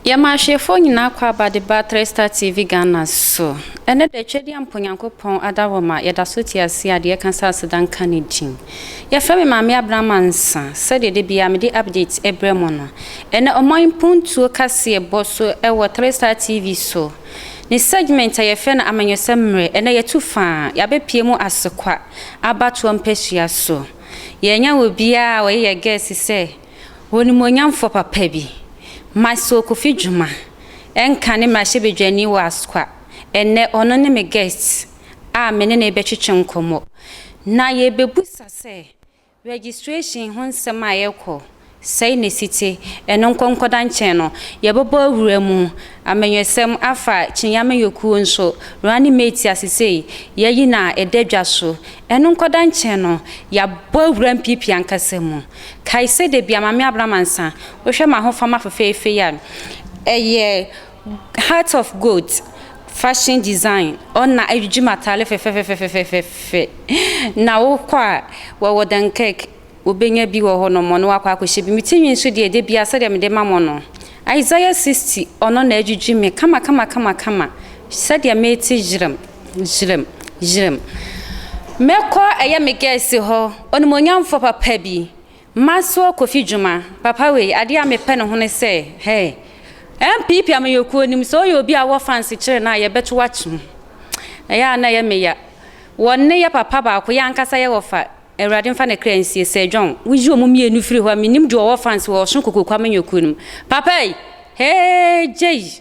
Yɛma ahwɛfoɔ nyinaa kɔ abade ba Three Star TV Ghana so. Ɛnnɛ da Twɛdeɛ Mpo Nyankopɔn Adaworoma yɛda so te aseɛ a deɛ ɛka sɛ aseda nka ne din. Yɛfrɛ me Maame Abraham Ansa, sɛdeɛ da biara mede update ɛbrɛ mo no. Ɛnnɛ ɔman mpuntuo kaseɛ bɔ so ɛwɔ Three Star TV so. Ne segment a yɛfrɛ no Amanyɔsɛm mmerɛ, ɛnnɛ yɛtu faa, yɛabɛpue mu Asekwa abatoɔ mpasua so. Yɛanya obiara a ɔyɛ yɛn guest sɛ Onimuonyamfoɔ papa bi, Maxwell Kofi Dwuma, nka ne mmarahyɛbadwani wɔ Asokwa. Ɛnnɛ, ɔno ne me guest a me ne no rebɛtwetwe nkɔmmɔ, na yɛrebɛbisa sɛ registration ho nsɛm a ɛrekɔ sɛn na ɛsi te. Ɛno nkɔnkɔda nkyɛn no, yɛbɛbɔ awura mu amanyɔsɛm afa Kyineeɛ amanyɔkuo nso, Running Mate a sesei yɛayi no a ɛda dwa so. Ɛno nkɔda nkyɛn no, yɛabɔ awura Mpiipii ankasa mu. Kae sɛ da bi a Maame Abram ansa wohwɛ m'ahofama fefeefe yi a ɛyɛ heart of gold fashion design ɔ na adwidwi m'atare fɛfɛfɛfɛfɛfɛfɛ na wokɔ a wɔwɔ Dunkirk wobɛnya bi wɔ hɔ nom ɔno wakɔ akɔhyɛ bi me ti nwi nso deɛ da bi a sɛdeɛ mede ma mo no Isaiah 60 ɔno na adwidwi me kama kama kama kama sɛdeɛ mete yerem Yerem, yerem. Mɛkɔ ɛyɛ me gɛɛse hɔ, onimuonyamfoɔ papa bi, Maxwell Kofi Dwuma, papa wei, adeɛ a mepɛ ne ho ne sɛ, hey, NPP amanyɔkuo nim sɛ ɔyɛ obi a wɔ fanse kyerɛ no a, yɛbɛto wakye ho. Ɛyɛ a na ɛyɛ me ya. Wɔ ne yɛ papa baako, yɛ ankasa yɛ wɔfa, Awurade mfa ne kra nsie, Sir John, woyi wɔn mmienu firi hɔ a, menim deɛ ɔwɔ fanse wɔ Ɔsono Kokoku amanyɔkuo no mu. Papa yi, hey, gyei.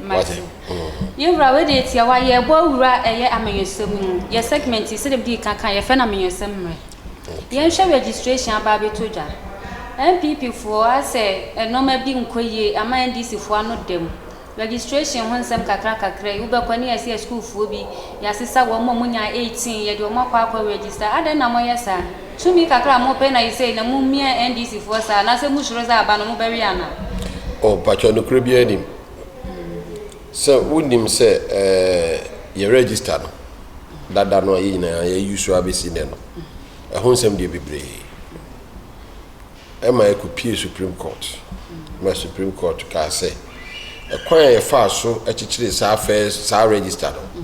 Mate. Yɛn wura, wei deɛ tia wa, yɛɛbɔ awura ɛyɛ amanyɔsɛm no mu. Yɛ segment yi, sɛdeɛ medi ka kan, yɛfrɛ no amanyɔsɛm mmerɛ. Yɛn hwɛ registration aba abɛtɔ dwa. NPP foɔ asɛ nnoɔma bi nkɔ yie ama NDC foɔ ano da mu. Registration ho nsɛm kakra kakra yi, wobɛkɔ ɛne yɛse yɛ sukuu foɔ bi, yɛasesa wɔn, wɔn nyaa 18, yɛde wɔn akɔ akɔ register, adɛn na moyɛ saa? Tumi kakra a mopɛ na isei na mo mia NDC foɔ saa anasɛ mo suro sɛ aba no mo bɛwe anaa. Oh mpakyɛw nokorɛ biara nim sɛ wo nim sɛ yɛ register no dada no a yɛ nyinaa yɛ use ara bɛsi nnɛ no ɛho nsɛm deɛ bebree ɛma ɛkɔ pie supreme court ma supreme court kaa sɛ ɛkwan a yɛ faa so ɛkyekyere saa first saa register no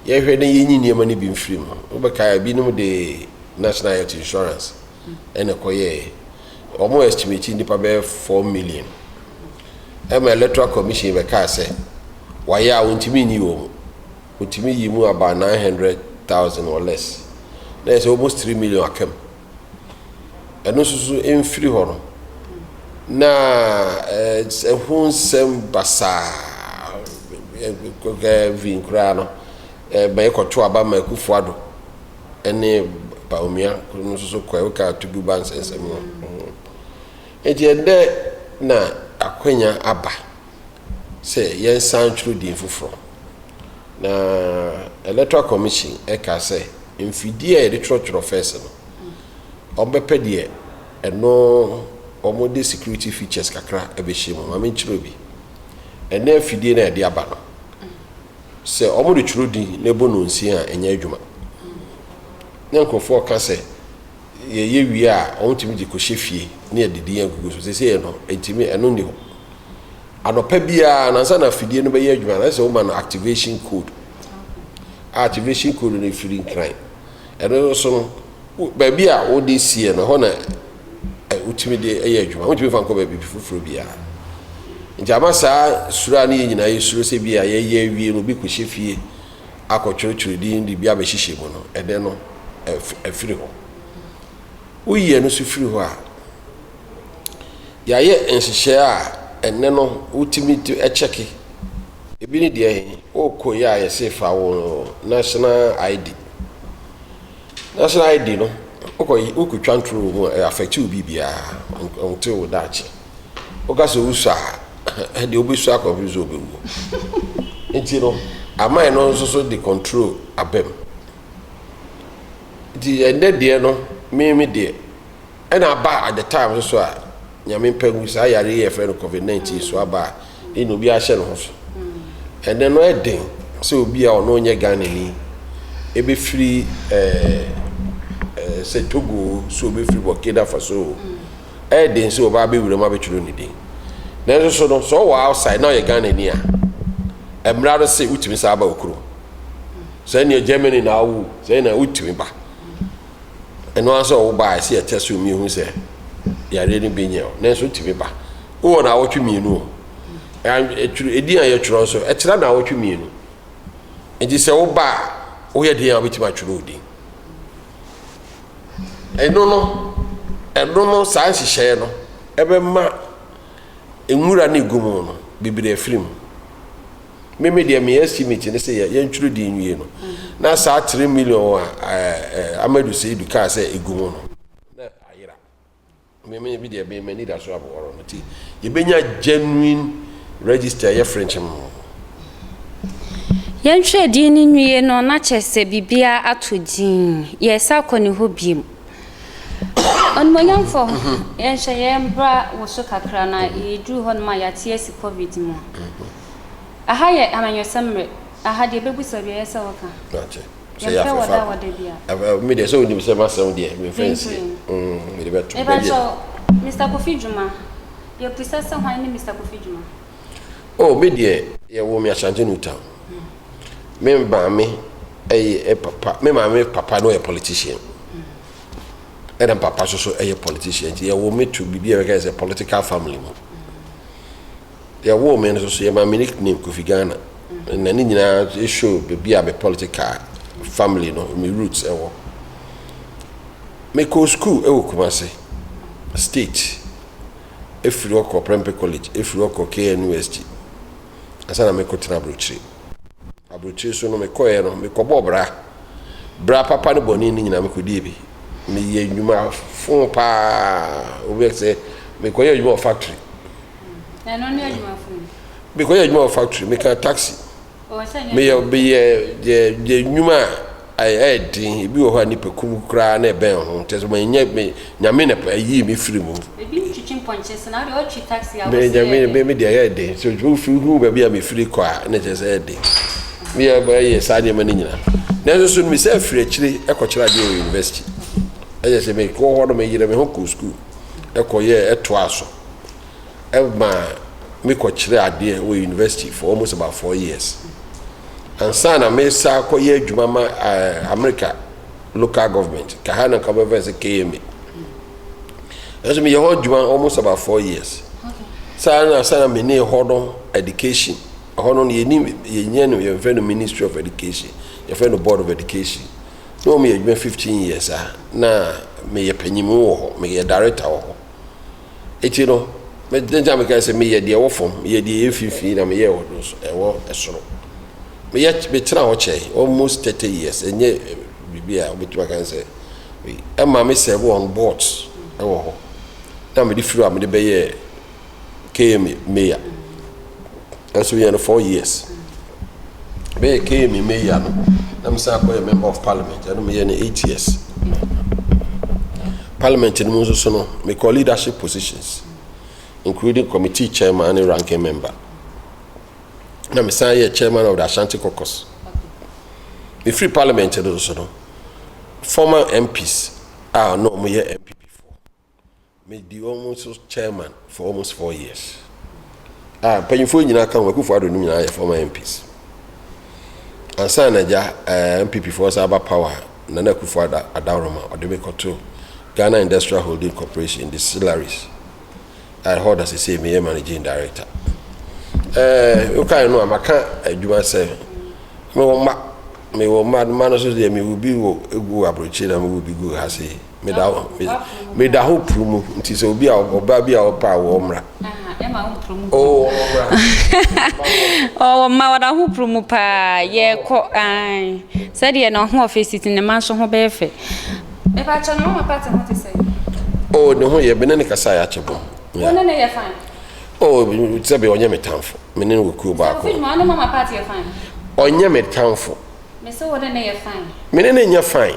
yɛ hwɛ na yɛ nyi nneɛma no bi mfiri mu wobɛkaa binom de National Health Insurance na ɛkɔyɛɛ. Wɔn estimate nnipa bɛyɛ four million. Ɛma Electoral Commission bɛkaa sɛ wɔayɛ a wɔntumi nyi wɔn. Wɔtumi yi mu about nine hundred thousand or less. Na ɛsɛ almost three million aka mu. Ɛno nso so mfiri hɔ no na ɛho nsɛm basaa ɛkɔkɛ vin koraa no ɛma ɛkɔto aba ma Akufo-Addo. ne Bawumia kor no so kɔe, wokaa Tugu Ba nsɛnsɛm no ho. Ntsi ndɛ na akwanya aba sɛ yɛnsan twor dzin fofor. Na Electoral Commission kaa sɛ mfidie a yɛde twerɛtwerɛ fɛs no, wɔbɛpɛ deɛ ɛno wɔde security features kakra bɛhyɛ mu. Ma menkyerɛ bi. Ɛnɛ afidie no a yɛde aba no, Sɛ wɔde twerɛdin na ɛbɔ nonsie a, ɛnyɛ adwuma. Na nkurɔfoɔ ka sɛ, yɛyɛ wie a, wɔtumi de kɔhyɛ fie na yɛde din agugu so. Seesei no, ɛntumi, ɛno nni hɔ. Anɔpa biara no, ansa na afidie no bɛyɛ adwuma no, ɛsɛ sɛ woma no activation code. A activation code no firi Nkran. Ɛno no so no, wo baabi a wode sie no, ɛhɔ na ɛ wotumi de yɛ adwuma. Wontumi fa nkɔ baabi foforɔ biara. Nti ama saa suro a ne yɛn nyinaa yɛsuro sɛ bi a yɛyɛ awie no obi kɔhyɛ fie akɔtwerɛtwerɛ din de bi abɛhyehyɛ mu no, ɛnɛ no ɛf ɛfiri hɔ. Woyi ɛno nso firi hɔ a, Yɛayɛ nhyehyɛɛ a ɛnnɛ no wotumi kyɛke. Ebi ne deɛ he? Wookɔ yi a yɛse fa wo national ID. National ID no, wokɔ yi, wokɔtwa ntoro wɔ mu a, ɛyɛ affect wo biribiaa. Ɔnte wo daakye. Woka sɛ wosɔ a, deɛ wobɛsɔ akɔpem sɛ wobɛwuo. Nti no, aman no nso so de control abam. Nti ɛnnɛ deɛ no, me me deɛ. Ɛna aba at the time nso so a Nyame mpɛ hu saa yareɛ yi a yɛfrɛ no covid 19 so aba a ɛna obi ahyɛ ne ho so. Ɛnɛ no ɛden sɛ obi a ɔno ɔnyɛ Ghanani ɛbɛfiri ɛɛ sɛ Togo so ɔbɛfiri Burkina Faso ɛden sɛ ɔba abɛwura mu abɛtwerɛ ne din. Nanso so no sɛ ɔwɔ outside na ɔyɛ Ghanani a ɛmmra no sɛ wotumi saa ba okuro. Sɛ ɛneɛ Germany na awo sɛ ɛna wotumi ba. Ɛno ara sɛ ɔwo ba a, ɛsɛ yɛtɛ so mmienu hu sɛ yareɛ no bi nyɛ o. Nanso wotumi ba. Wowɔ naawɔtwe mmienu o. Ɛdin a yɛtwerɛ nso, ɛtra naawɔtwe mmienu. Nti sɛ wo ba a, woyɛ den a wobɛtumi atwerɛ wo din. Ɛno no, ɛno no, saa nhyehyɛeɛ no, ɛbɛma nwura no ɛgu mu no, bebree afiri mu. Me me deɛ me estimate ne sɛ yɛ yɛn twere di nwie no na saa three million a ɛɛ ɛɛ Amadu Seidu kaa sɛ egu mu no na ayera. Me me bi deɛ me m'ani da so abɔwɔrɔ no ti yɛbɛnya genuine register yɛ frenkyem no. Yɛn twere di no nwie no na kyerɛ sɛ biribiara ato din yɛresa akɔ ne hɔ bio. Onimuonyamfo, yɛnhyɛ yɛn bra wo so kakra na yɛduru hɔnom a yɛate asi covid mu. Aha yɛ amanyɔsɛm mmere, aha deɛ bɛbusa biara ɛyɛ sɛ woka. Yɛmpɛ wɔ da wɔ da bi a. Me deɛ sɛ wonim sɛ masɛm deɛ memfa nsie. Mede bɛto. Mebakyɛw, Mister Kofi Dwuma, yɛbisa sɛ hwan ne Mister Kofi Dwuma? Oh, me deɛ yɛwoo me Ashanti New Town. Me maame yɛ papa me maame papa no yɛ politician ɛna papa nso so yɛ politician nti yɛwɔ me to biribi a bɛka sɛ political family mu yɛwɔ me nso so yɛ maame nickname Kofi Ghana na ne nyinaa ɛshow baabi a me political family no me roots ɛwɔ mekɔɔ school ɛwɔ Kumase state ɛfiri hɔ kɔ Prempeh College ɛfiri hɔ kɔ KNUST ansa na mekɔtena aburokyire. Aburokyire nso no mekɔeɛ no, mekɔbɔɔ bra. Bra papa ne bɔne no nyinaa mekɔdii bi. Meyɛ nnwuma fo paa. Obi bɛka sɛ mekɔyɛ adwuma wɔ factory. Ɛno ne adwuma fo no. Mekɔyɛ adwuma wɔ factory, meka taxi. Meyɛ meyɛ yɛ yɛ nnwuma a Ayɛ den, ebi wɔ hɔ a nnipakum koraa na ɛbɛn ho, kyerɛ sɛ manyɛ me, Nyame na ayii me firi mu. Ebi ntwitwi mpɔnkye se na wode ɔtwi taxi a wose ɛyɛ den. Me, me deɛ ɛyɛ den, sɛ wofi hu baabi a mefiri kɔ a na kyerɛ sɛ ɛyɛ den. Meyɛ, mɛyɛ saa nneɛma no nyina. Nanso so no mesan firi akyire kɔkyerɛ adeɛ wɔ university. Ɛyɛ sɛ mekɔ hɔ no meyerɛ me ho kɔɔ sukuu kɔyɛɛ, ɛtoaa so. ɛmaa me kɔ kyerɛ adeɛ wɔ university for almost about four years ansa na me sa kɔ yɛ adwuma ma uh, America local government kaha na kɔ bɛfɛ sɛ KMA ɛso meyɛ hɔ adwuma almost about four years saa na sa na me ne hɔ no education ɛhɔ no yɛni yɛnyɛ no yɛmfɛ no ministry of education yɛfɛ no board of education na wɔn yɛ adwuma fifteen years a na meyɛ panyin wɔ hɔ meyɛ director wɔ hɔ. Enti no, me dɛn nti na mekae sɛ meyɛ deɛ ɛwɔ fam, meyɛ deɛ ɛyɛ mfimfini na meyɛ ɛwɔ do so, ɛwɔ ɛsoro. Meyɛ metena hɔ kyɛe almost thirty years, ɛnyɛ biribi a wobɛtumi aka ne sɛ wei. Ɛma me serve on boards ɛwɔ hɔ, na mede firi hɔ a mede bɛyɛɛ KMA mayor. Nso yɛ no four years bɛyɛ kee me mɛ yia no na me san akɔyɛ member of parliament ɛno meyɛ no eight years parliament no mu nso so no mekɔ leadership positions including committee chairman ne ranking member na me san yɛ chairman of the ashanti caucus mefiri parliament no so no former mps a na wɔyɛ mpp Me di wɔn so chairman for almost four years a mpanyinfoɔ nyinaa ka ho akufo ado no nyinaa yɛ former mps ansa na gya eh, npp foɔ sa aba power na na akufo ada adaworoma ɔde me kɔto ghana industrial holding corporation distilleries a ɛhɔ da sesei meyɛ managing director eh, wokae no a maka adwuma sɛ mewɔ mma mewɔ mma mma no so deɛ mewo bi wɔ gu aborɔkyiri na mewo bi gu ha sei meda hɔ meda hɔ puru mu nti sɛ obi a ɔbaa bi a ɔpɛ a wɔmmra ɔwɔ mma wɔda ho puru mu paa yɛkɔ sɛdeɛ na ɔho ɔfɛ si te ne ma nso ho bɛyɛ fɛ mepakyɛ no mama pate ho te sɛ o ne ho yɛ mene ne kasa yɛ akyɛ bɔ wone ne yɛ fine o sɛbe ɔnyɛ me tamfo mene ne wɔ kuo baako ɔnyɛ me tamfo mene ne nyɛ fine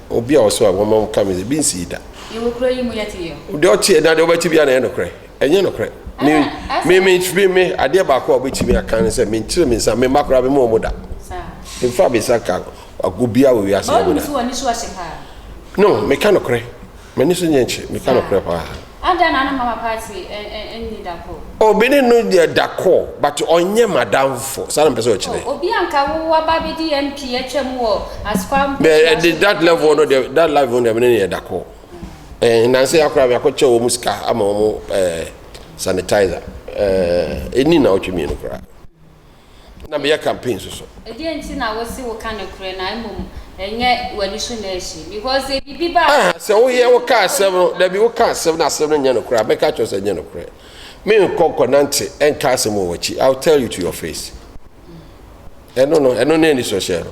Obi a ɔso a wɔma wɔn ka mese bi nsii da. Yɛwɔ kuro yi mu yɛte yɛ. Deɛ ɔteɛ na deɛ ɔbɛte bia na ɛyɛ nokorɛ ɛnyɛ nokorɛ. Me me me me me adeɛ baako a ɔbɛtumi aka ne sɛ menkyerɛ me nsa me mma koraa me ma wɔn da. Mfa me nsa nka obiara wɔ wiase. Baabi na. No meka nokorɛ m'ani so nyɛ nkye meka nokorɛ paa. Adɛn na ne mama party nni da koro? Oh me ne no yɛ da koro but ɔnyɛ m'adamfo, saa na mepɛ sɛ ɔkyerɛ. Oh obi a nka wo waba bɛdi MP atwam wɔ Asukwa Mpɔkyerɛ so. That level no deɛ, that level no deɛ me ne no yɛ da koro. Eh nnansa yi ara koraa meakɔkyɛ wɔn sika ama wɔn eh sanitizer eh ɛnni nnawɔtwe mmienu koraa. na meyɛ campaign nso so. Ɛdeɛn nti na wose woka nokorɛ na mmom ɛnyɛ w'ani so na ɛhye? Because sɛ biribi ba a. Ah, sɛ woyɛ woka asɛm no, dabi woka asɛm na asɛm no nyɛ nokorɛ a, mɛka kyerɛ sɛ nyɛ nokorɛ. Menkɔ nkɔnante ɛnka asɛm wɔ w'akyi. I will tell you to your face. Ɛno no, ɛno ne anisɔhyɛ no.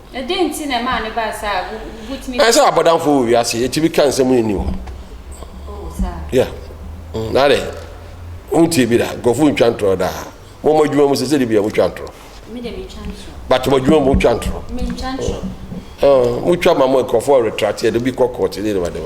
Na dɛn nti na ɛmaa no baa saa a? Wo, wotumi. Ɛyɛ sɛ abɔdamfo wɔ wiase yi, etumi ka nsɛm nni hɔ. Oh, saa. Yeah. Mm, na dɛ, wontie bi da, nkurɔfo ntwa ntorɔ daa. Mo mo adwuma mu sɛ sɛde bi a motwa ntorɔ. Me de metwa ntorɔ. But mo adwuma mu motwa ntorɔ. Mentwa ntorɔ. Oh, oh, motwa ma mo nkurɔfo retrate, ɛde bi kɔ kɔɔte ne ne ma de ma.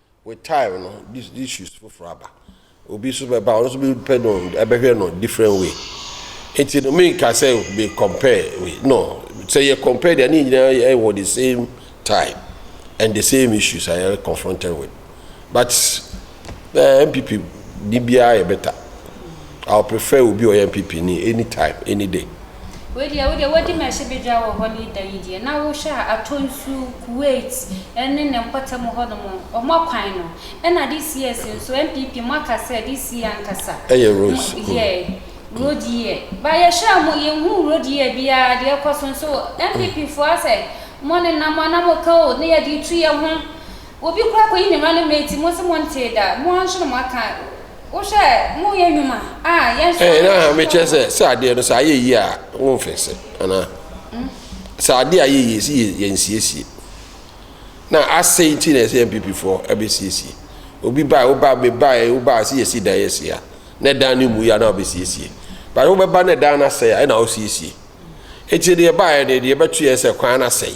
with time no this issues foforɔ aba obi nso bɛba ɔno nso bɛpɛ no ɛbɛhwɛ no different way nti no menka sɛ be compare we no sɛ yɛ compare deɛ ne nyinaa yɛ wɔ the same time and the same issues a yɛ confronted with but uh, mpp ni biara yɛ better i prefer obi ɔyɛ mpp ni anytime any day Wei deɛ wodeɛ wadi me ahyɛbadwa wɔ hɔ ne da yi deɛ na wohwɛ a atɔ nsu Kuwait ne ne mpɔtam hɔ nom ɔmɔ kwan no ɛna this year si nso NPP mo aka sɛ this year ankasa ɛyɛ road yeah road year ba yɛhwɛ a mo yɛnhu road year biara deɛ ɛkɔ so nso NPP foɔ asɛ mo ne nam a na mo ka o ne yɛde tu yɛ ho obi kora kɔyi ne running mate mo se mo ntee da mo nso na mo aka wohwɛ mo yɛ nnwuma a yɛn nso. ɛɛ na mi kyerɛ sɛ sɛ adeɛ no sɛ ayɛ yie a wɔn mfɛnsɛ anaa hmm? sɛ adeɛ ayɛ yie si yɛn nsiesie na asɛe ti na ɛsɛ npp foɔ ɛbɛsiesie obi baa wobaa mebaa wobaa si yɛsi dan yɛsi a na dan no mu yɛ a na ɔbɛsiesie baa wobɛba na dan no asɛe a ɛna ɔsiesie eti deɛ baayɛ deɛ deɛ ɛbɛto yɛ sɛ kwan no asɛe.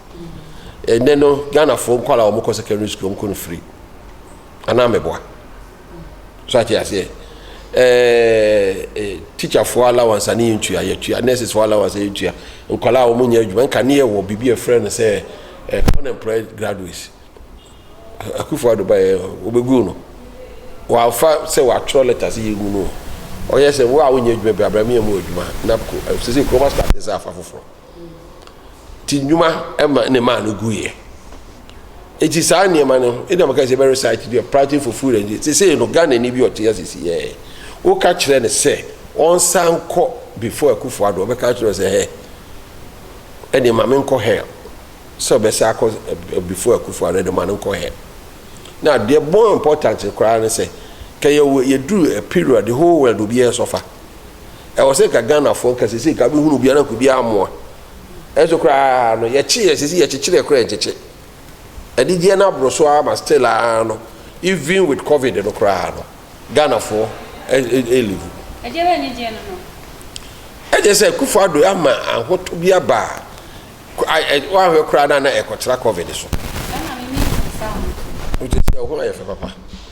Ɛnnɛ no Ghanafoɔ nkwadaa a wɔkɔ secondary school wɔn kɔ no free anaa mɛboa so ate aseɛ ɛɛ teacherfoɔ allowance a ne yɛn tua yɛtua nursefoɔ allowance a yɛtua nkwadaa a wɔn nyɛ adwuma nka ne yɛ wɔ biribi a ɛfrɛ no sɛ ɛɛ unemployed graduates akufo ado ba yɛ wɔbɛgu no wɔafa sɛ wɔatwerɛ letter sɛ yɛgu no ɔyɛ sɛ wo a wonyɛ adwuma bi abirami yɛ mu adwuma napco ɛsɛ sɛ kuroma start sɛ afa foforɔ. Ti nnwuma ma ne maa no guiɛ. Eti saa nneɛma no, ebi na maka sɛ bɛ research bi, practice for food and sesei no Ghana ni bi ɔte asisi yɛɛ. Woka kyerɛ no sɛ ɔnsan kɔ before Akufo Addo, ɔbɛka kyerɛ sɛ hɛ. Ɛde ma me nkɔ hell. Sɛ ɔbɛsa akɔ before Akufo Addo, ɛde ma no nkɔ hell. Now, the more important koraa ne sɛ, kɛ yɛwɔ yɛduru a period, the whole world obiara sɔfa. Ɛwɔ sɛ nka Ghanafoɔ nka sɛsɛ nka bɛhunu obi ana nka obi amoa. Ɛnso koraa no yɛkyeeɛ sɛsɛ yɛkyekyerɛ koraa nkyekye. Adigyeɛ no aboro so ara ma still ara no even with covid no koraa no Ghanafoɔ ɛlivu. Ɛdeɛ bɛn ne gyeɛ no no? Ɛgye sɛ Akufo Addo ama ahotɔ bi aba a woahwɛ koraa no a na ɛkɔtra covid so. Ɛna me me nsa ho. Wote sɛ ɛho ayɛ fɛ papa.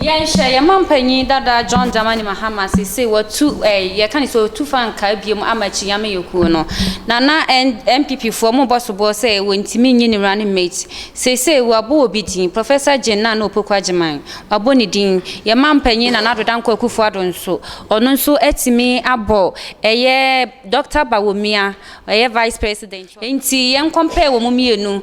Yɛnhwɛ, yɛn mampanyin dada John Dramani Mahama seesei watu ɛɛ yɛka ne sɛ otu fa nkaa biom ama akyinnye amanyɔkuo no. Na na N NPP foɔ mo bɔ soboɔ sɛ wɔntumi nnye ne running mate. Seesei wɔabɔ obi din, Professor Jane Nana Opoku Agyemang, wɔabɔ ne din. Yɛn mampanyin Nana Addo Dankwa Akufo Addo nso, ɔno nso atumi abɔ ɛyɛ Doctor Bawumia, ɛyɛ Vice President. Nti yɛn compare wɔn mmienu.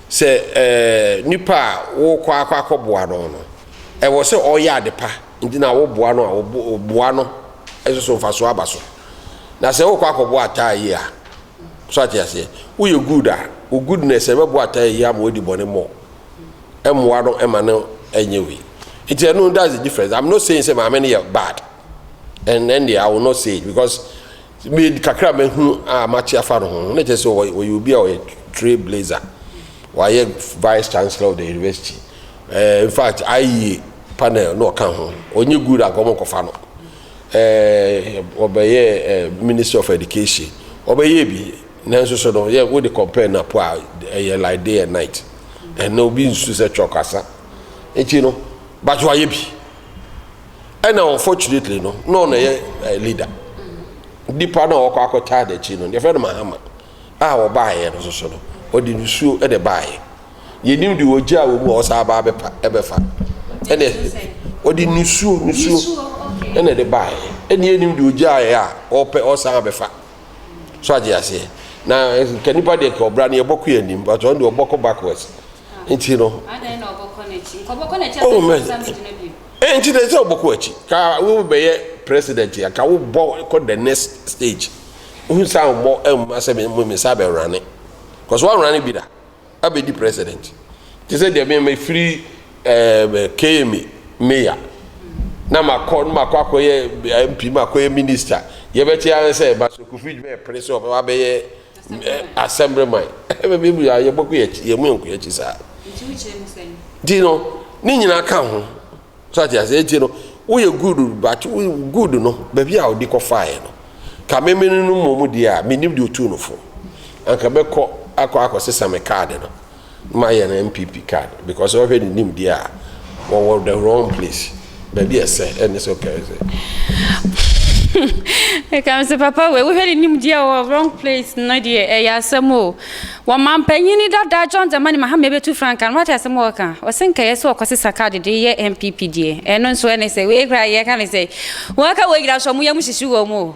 Sɛ nipa a worekɔ akɔ akɔboa no no, ɛwɔ sɛ ɔyɛ ade pa nti na woboa no a, boa no nso so mfasoɔ aba so. Na sɛ worekɔ akɔboa ataayi a, so ate aseɛ, woyɛ good a, wo goodness ɛbɛboa ataayi yi ama wadi bɔne more. Ɛmmoa no ɛma no ɛnyɛ wei. Nti ɛno that's the difference. I'm not saying sɛ maame no yɛ bad. And then I will not say it because Me kakra mahunu a mate afa no ho na kyerɛ sɛ ɔyɛ obi a ɔyɛ trail blazer wayɛ vice chancellor of the university uh, in fact IE panel na ɔka ho ɔnyɛ good anka ɔmo nkɔfa no ɔbɛyɛ eh, uh, minister of education ɔbɛyɛ bi nanso so no yɛ wode compare na po a ɛyɛ like day and night ɛna obi nsu sɛ twɛ ɔkasa nti no but wayɛ bi ɛna unfortunately no na ɔna yɛ eh, leader nipa na ɔkɔ akɔtaa n'akyi no yɛfrɛ no mahama a ɔbaayɛ no soso no ɔde nsuo ɛde baayɛ yɛnim de ɔgya a wɔ mu a ɔsa aba abɛpa ɛbɛfa ɛna ɔde nsuo nsuo ɛna ɛde baayɛ ɛna yɛnim de ɔgya a ɛyɛ a ɔpɛ ɔsan abɛfa so agye aseɛ na eh, nka nipa deɛ ka ɔbra no yɛbɔkɔ yɛ anim but ɔno deɛ ɔbɔkɔ backwards nti no oh man Nti dɛ sɛ wobɔkɔ akyi ka wo bɛyɛ president a ka wo bɔ kɔ the next stage wohu sa wo bɔ mma sɛ me me sa bɛ rane cause wa rane bi da abɛ di president te sɛ deɛ me me firi ɛɛ eh, KMA mayor na ma kɔ na ma kɔ akɔ yɛ MP ma kɔ yɛ minister yɛ bɛ te ara sɛ Baso Kofi dwuma yɛ pere sɛ ɔbɛ wa bɛ yɛ Asɛm rema ɛbɛ bɛ bi a yɛbɔ kɔ yɛn yɛn mu yɛn kɔ yɛn akyi saa. Nti wo kyerɛ mu sɛn? Nti no ne nyinaa ka ho so ate ase nti no woyɛ good but wo good no baabi a ɔde kɔ faeɛ no ka meme no no mmom deɛ a menim deɛ ɔtuu no fo anka bɛkɔ akɔ akɔsesa me kaade no ma yɛn NPP card because sɛ wɔhwɛ ne nimdeɛ a wɔwɔ the wrong place baabi ɛsɛ ɛne sɛ ɔkɛrɛ sɛ. ɛka me sɛ papa wei wohwɛ ne nimdeɛ wɔ wrong place no deɛ ɛyɛ asɛm o wɔmampanyini dada John Dramani Mahama ɛbɛtu franka no wate asɛm a ɔka ɔsɛ nkɛyɛ sɛ ɔkɔsesa card de yɛ NPP deɛ ɛno nso ɛne sɛ wei koraa yɛka ne sɛ wɔaka wɔ nyina so ɔmo yɛ mo hyehye wɔ mu o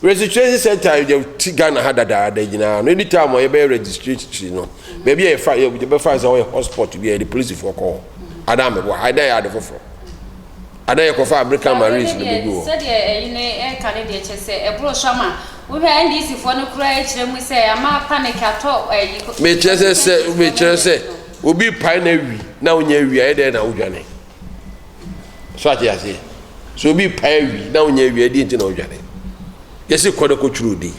Registration center a yɛde ti Ghana ha dadaada nyinaa no any time a yɛbɛyɛ registration no baabi a yɛfa yɛbɛfa sɛ ɔyɛ hotspot bi a yɛde polisifoɔ kɔ hɔ anaa mɛboa ha ɛdɛ yɛ ade foforɔ anaa yɛkɔfa American Marines no bɛgu hɔ. sɛdeɛ ɛyi no ɛka no deɛ kyɛ sɛ ɛboro so ama wohwɛ NDC foɔ no koraa ɛkyerɛ mu sɛ ama panic atɔ ɛyi mekyerɛ sɛ sɛ mekyerɛ sɛ obi pae na awi na wonya awi a ɛdɛ na wodwane so ate aseɛ so obi pae awi na wonyɛ awi ɛdeɛ nti na ɔdwane yɛsi kɔ no kɔtwerɛ din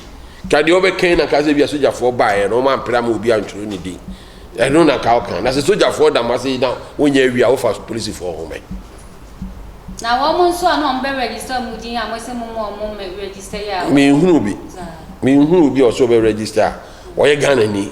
ka deɛ ɔbɛkan na ka sɛ bia sogyafoɔ baeɛ no ɔma mpere ama obi antwerɛ ne din ɛno na ka ɔka na sɛ sogyafoɔ dam ase na wonyɛ awi a wofa polisifoɔ ho mɛ na wɔn nso a na wɔn bɛ register wɔn din a wɔsɛ mo mo wɔn mɛ register yɛ a menhunu bi menhunu bi a ɔsɛ ɔbɛ register a ɔyɛ Ghana ni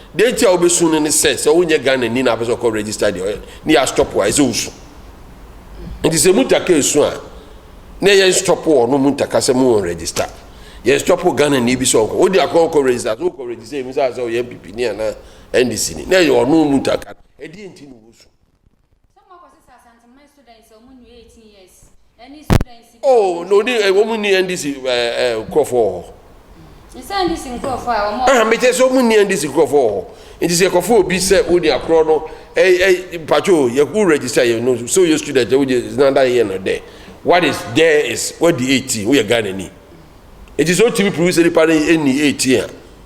Deɛ nti a wobɛsu no ne sɛ, sɛ wonyɛ Ghanani na wopɛ sɛ wokɔ register deɛ, ne yɛ astɔpo a, ɛsɛ sɛ wosu. Nti sɛ Muntaka resu a, ne yɛ nstɔpo ɔno Muntaka sɛ mo register. Yɛ nstɔpo Ghanani bi sɛ ɔnkɔ. Wode akɔ ɔnkɔ register, sɛ wokɔ register, yɛhu sɛ asɛ ɔyɛ NPP ni anaa NDC ni. Ne yɛ ɔno Muntaka no. Ɛdeɛ nti na wosu. Some more kɔsi sɛ Asante man Sudan sɛ wɔn nni 18 years ɛne Sudan nsi bi. Oh, na odi eh, wɔn nni NDC ɛɛ eh, ɛɛ eh, nkurɔfoɔ wɔ hɔ. Nsɛ NDC nkurɔfoɔ a wɔn. Aha, mekyɛ sɛ wɔn nni NDC nkurɔfoɔ wɔ hɔ. Nti sɛ yɛkɔfo obi sɛ odi akorɔ no, ɛɛ ɛɛ mpatsɔ o, yɛ wo register yɛ no, sɛ oyɛ student yɛ wogye nanda yɛ no dɛ. What is there is wadi 18, woyɛ Ghana ni. Nti sɛ otumi prove sɛ nipa no ɛnni 18 a.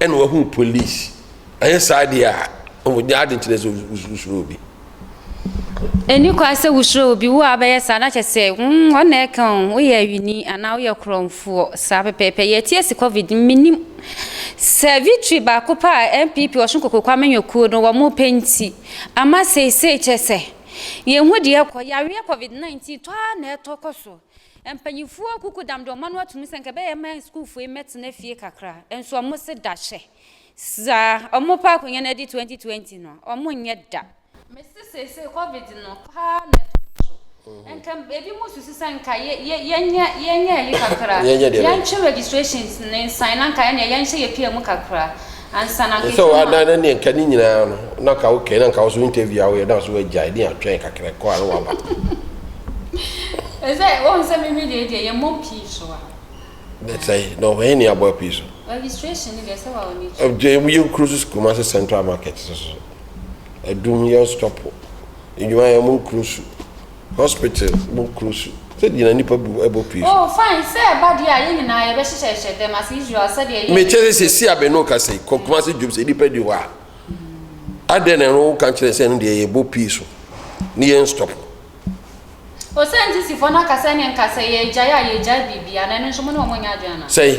Ɛna wahu police ɛnyɛ saa deɛ a ɔmo nyɛ adi nkyerɛ sɛ wosuro obi. Ɛni kwan sɛ wosuro obi wo a wobɛyɛ saa na kyɛ sɛ mm wɔn na ɛka o woyɛ awini anaa woyɛ korɔnfoɔ saa pɛpɛɛpɛ yɛte asi covid no menim sɛ victory baako pɛ a NPP Ɔsun Koko Kwame Nyokuo no wɔn pɛ nti ama seisei kyɛ sɛ yɛn hu deɛ ɛkɔ yareɛ covid 19 tɔ ara na ɛtɔ kɔ so. Mpanyimfo akuku dam dɛ ɔma no ato mu sɛ nka ɛbɛyɛ ma sukuufo yi mbɛtsena fie kakra, nso ɔmo se da hyɛ dza ɔmo pɛ akonwa no adi 2020 no a, ɔmo nnyɛ da. Mese seesei Covid no paa na ɛtɔ so, nka ebinom susu sɛ nka yɛnyɛ yɛnyɛ ayi kakra, yɛntwe registrations no nsan na nka ɛneɛ yɛnhyɛ yɛpia mu kakra. ansa na Yɛsɛ wo adan na neɛ nka ne nyinaa no na ka okay na nka wo so interview a woyɛ na so agyae ne atwɛn kakra kɔ a na waba. Ɛsɛ wohu sɛ me me deɛ deɛ yɛmmɔ pii so a. Ne sɛe na ɔhɛn ne abɔ pii so. Registration ne deɛ ɛsɛ wa wɔ ne akyi. Ɛgye mu yɛ nkuro so Kumasi central market so so. Adum yɛ stop nnwuma yɛ mo nkuro so. Hospital mu kuro su. Sɛdeɛ na nnipa bu ɛbɔ pue so. Oh, fine, sɛ ɛba deɛ a, yɛn nyinaa yɛbɛhyehyɛhyehyɛ dɛm ase Israel sɛdeɛ yɛn. Mekyɛ sɛ sɛsi a me ne wo kasa yi, kɔ Kumasi dwom sɛ nnipa ni hɔ a, adɛn na ɛno woka kyerɛ sɛ ɛno deɛ yɛbɔ pue so ne yɛn stop. Oh, sɛ NCCfoɔ no aka sɛ ɛne nka sɛ yɛgyae a, yɛgyae biribiara, na ɛno nso mo ne wɔn nyɛ adwene anaa? Sɛn?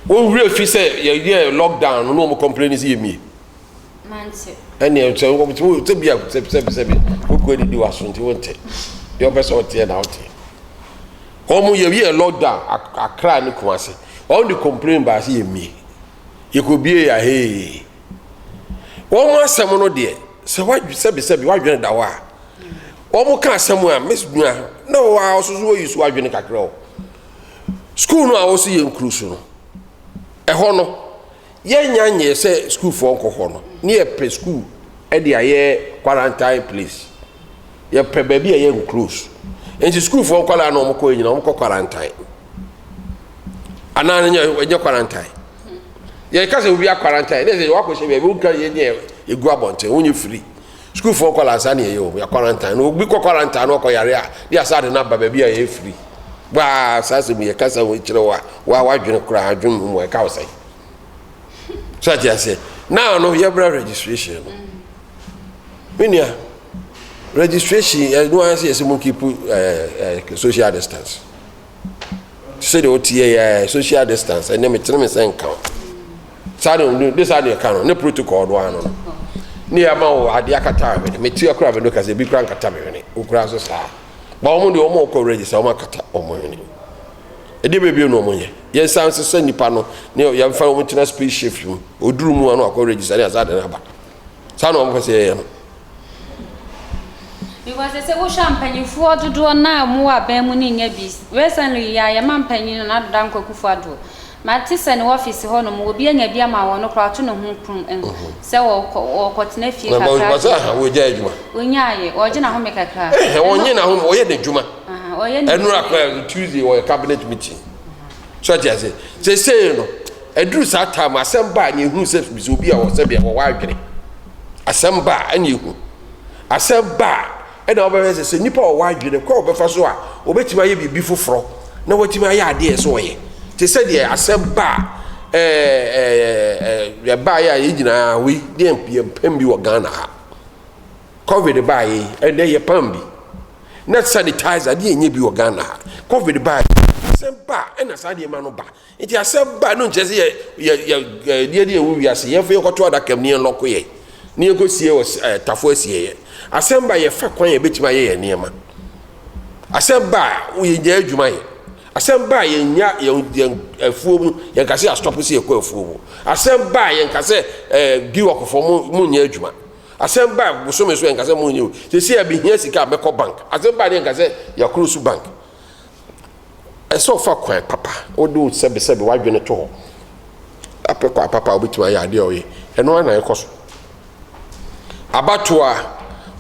Wɔn werɛ fi sɛ yɛyɛɛ lockdown no na wɔn complaini sɛ yɛmmie? mante. ɛneɛ sɛ wobɛtumi sɛ bia sɛbisɛbi wokura didi waso nti wonte deɛ ɔpɛ sɛ ɔteɛ na woteɛ wɔn yɛyɛ lockdown akra ne kuma se wɔn de complain baa se yɛmmie yɛkɔbie yɛ ahee wɔn asɛm no deɛ sɛ wadwe sɛbisɛbi wadwene da hɔ a wɔn ka asɛm a miss nua na wɔn a ɔsoso wɔ yi so wadwene kakra o sukuu no a wɔsi yɛ nkuru so no ɛhɔ no Yɛnnya nyɛɛ sɛ sukuufoɔ nkɔ hɔ no, ne yɛpɛ sukuu de ayɛ quarantine place. Yɛpɛ baabi a yɛ enclose. Nti sukuufoɔ nkwadaa na wɔkɔ yɛ nyinaa, wɔkɔ quarantine. Anaa no nyɛ, ɛnyɛ quarantine. Yɛka sɛ obi akwarantine, ne sɛ wakɔhyɛ baabi, wontwa yɛ nyɛ ɛgu abɔnten, wonyɛ firi. Sukuufoɔ nkwadaa saa ne yɛyɛ wɔn, yɛ quarantine. Na obi kɔ quarantine na ɔkɔ yare a, ne yɛasa de no aba baabi a yɛyɛ firi. Baa saa asɛm yi, yɛkasa ho kyerɛ wo a, wo ara w'adwene koraa, adwene mmom a, ɛka wo sɛn? so ate aseɛ naa no yɛbra registration no me nua registration ɛno ara sɛ yɛsɛ mo keep ɛɛ social distance sɛdeɛ wote yɛ yɛ social distance ɛnɛ metene me sɛ nka wo saa de ne de saa deɛ ka no ne protocol no ano no ne yɛ ama wo adeɛ akata me ne mete akora me no kasɛ bi kora nkata me hwene wokura so saa ba wɔn deɛ wɔn kɔ register wɔn akata wɔn hwene. Ɛdeɛ bɛn bio na wɔn yɛ? Yɛn san se sɛ nipa no ne yɛn fa wɔn tena space ships mu. Oduru mu ano akɔ register ne asan de no aba. Saa na wɔn pɛ sɛ yɛyɛ no. Because they say wo hwɛ mpanyinfoɔ dodoɔ no a mu wɔ aban mu no nyɛ bi. Recently yi a yɛma mpanyin no n'adoda nkwakufoɔ adoɔ. Mate sɛ ne wɔfese hɔ nom wɔbi anya bi ama wɔno koraa ɔto ne ho prum nso sɛ wɔkɔ wɔkɔ tena fie kakra afei Wɔsɛ aha wɔgyae adwuma. Ɔnya ayɛ ɔgye n'ahome kakra a. Ɛhɛ ɔnye n'ahome ɔyɛ n'adwuma. Aha ɔyɛ ne Ɛnora dwuma koraa yie. Tuesday ɔyɛ cabinet meeting. So ate aseɛ? Seisei no aduru saa time no asɛm ba a neɛ ɛhunu sɛ bisa obi a ɔwɔ sɛbea ɔwɔ adwene. Asɛm ba a ɛne ɛhu. Asɛm ba a Ɛnna wobɛhwɛ sɛ, sɛ nnipa a wɔwɔ adwene kɔ a wɔbɛfa so a wɔbɛtumi ayɛ biribi foforɔ na wɔatumi ayɛ adeɛ a ɛsɛ sɛ wɔyɛ. Te sɛ deɛ asɛm ba a ɛbaeɛ a yɛn nyinaa wei deɛ yɛmpam bi wɔ Ghana ha. Covid baeɛ yi, ɛnnɛ yɛpam bi. Na sanitizer deɛ ɛnyɛ bi wɔ Ghana ha. Covid baeɛ yi, asɛm ba a ɛnna saa nneɛma no ba. Nti asɛ ba no nkyerɛ sɛ yɛ yɛ yɛ ɛdeɛ deɛ ɛwɔ wiase yɛn fo yɛ kɔto adaka mu ne yɛn lɔko yɛ ne yɛn kɔ sie wɔ ɛɛ tafo asie yɛ asɛm ba yɛ fa kwan yɛ betumi ayɛ yɛn nneɛma asɛm ba yɛ nya adwuma yɛ asɛm ba yɛ nya yɛn yɛn afuo mu yɛn kase asɔpo si yɛ kɔ afuo mu asɛm ba yɛn kase ɛɛ bi wɔkofo mu mu nya adwuma asɛm ba bosome so yɛn kase mu nya sisi yɛ behia sika bɛkɔ bank asɛm ba yɛn kase yɛ koro so bank. Ɛsɛ sɛ ɔfa kwan papa, wode wo sɛbesɛbe, w'adwene to hɔ, apɛ kwan papa a wobɛtumi ayɛ adeɛ a ɔyɛ. Ɛno ara na ɛkɔ so. Abatoa,